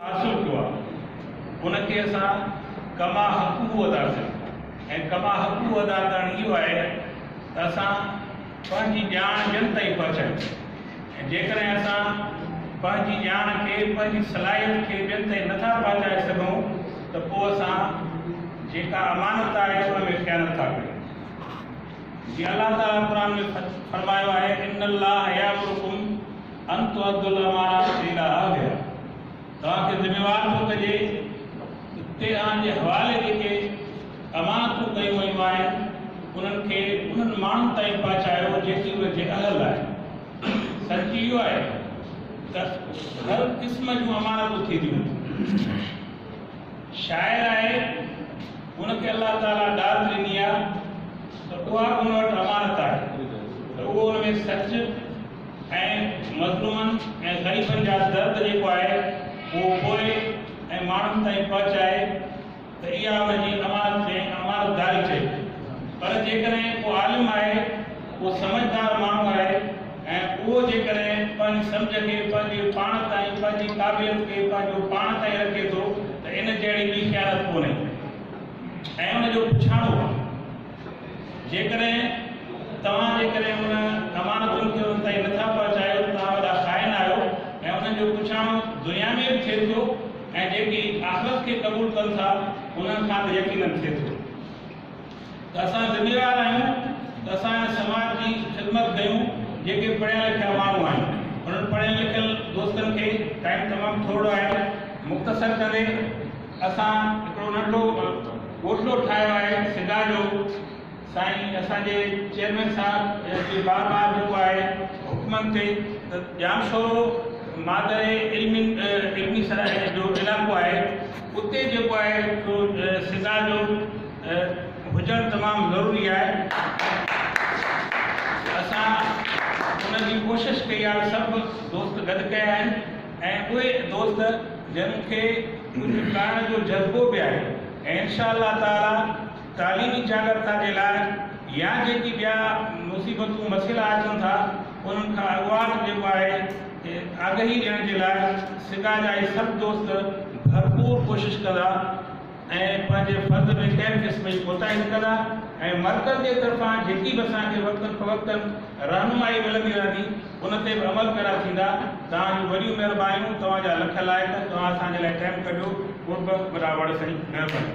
حاصل ڪيو آهي ان کي اسان ڪما حقه ادا ڪيو ۽ ڪما حقه ادا ڪرڻ اهو آهي ته اسان پنهنجي ڄاڻ ٻين تائين پهچايون ۽ جيڪڏهن اسان پنهنجي ڄاڻ کي پنهنجي صلاحيت کي ٻين تائين نٿا پهچائي سگهون ته پوء اسان جيڪا امانت آهي ان ۾ خيانت ٿا ڪريون جي الله تعالي قرآن ۾ فرمايو آهي ان الله يامرڪم ان تو عبد الله مارا اڪيلا آ گيا توهان کي ذميوار ٿو ڪجي ته تهران جي حوالي جيڪي امانتون ڪيون ويون آهن انهن کي انهن ماڻهن تائين پهچايو جيڪي ان جي اهل آهن سچ اهو آهي ته هر قسم جون امانتون ٿينديون آهن شاعر آهي ان کي الله تعالي ڏات ڏني آهي ته اها ان وٽ امانت آهي ته اهو ان ۾ سچ ۽ مظلومن ۽ غريبن جا درد جيڪو آهي اهو پوء ۽ ماڻهن تائين پهچائي ته اها ان جي امانت کي امانت داري چئبي پر جيڪڏهن ڪو عالم آهي ڪو سمجهدار ماڻهو آهي ۽ اهو جيڪڏهن پنهنجي سمجهه کي پنهنجي پاڻ تائين پنهنجي قابليت کي پنهنجو پاڻ تائين رکي ٿو ته ان جهڙي ٻي خيانت ڪونهي ۽ ان جو پڇاڻو جيڪڏهن توهان جي ڪري ان امانتن کي ان تائين نٿا پهچايو ته توهان وڏا خائن آهيو ۽ انهن جو پڇاڻو دنيا ۾ به ٿئي ٿو ۽ جيڪي آخرت کي قبول ڪن ٿا انهن کان ته يقيناً ٿئي ٿو ته اسان ذميوار آهيون ته اسان هن سماج جي خدمت ڪيون جيڪي پڙهيا لکيا ماڻهو آهن انهن پڙهيل لکيل دوستن کي ٽائيم تمام ٿورڙو آهي مختصر ڪندي اسان هڪڙو ننڍو گوشلو ٺاهيو آهي سدا جو سائين اسان جي چيئرمين صاحب جي بار بار جيڪو آهي حڪمن تي ته ڄامشورو مادر علمي علمي سرائي جو علائقو آهي اتي جيڪو آهي سو سدا جو هجڻ تمام ضروري آهي اسان ان جي ڪوشش ڪئي آهي سڀ دوست گڏ ڪيا آهن ۽ اهي دوست جن کي ڪجهه ڪرڻ جو جذبو به آهي ۽ انشاء الله تعاليٰ تعليمي جاڳرتا جي لاء يا جيڪي ٻيا مصيبتون مسئلا اچن ٿا انهن کان اڳواٽ جيڪو آهي آگهي ڏيڻ جي لاء سگا جا اهي سڀ دوست ڀرپور ڪوشش ڪندا. ۽ پنهنجي فرض ۾ ڪنهن قسم جي ڪوتاهي نه ڪندا ۽ مرڪز جي طرفان جيڪي به اسان کي وقتن فوقتن رهنمائي ملندي رهندي ان تي به عمل پيرا ٿيندا. توهان جون وڏيون مهربانيون توهان جا لک لائق توهان اسان جي لاء ٽيم ڪڍيو قرب وڏا وڙ سائين مهرباني.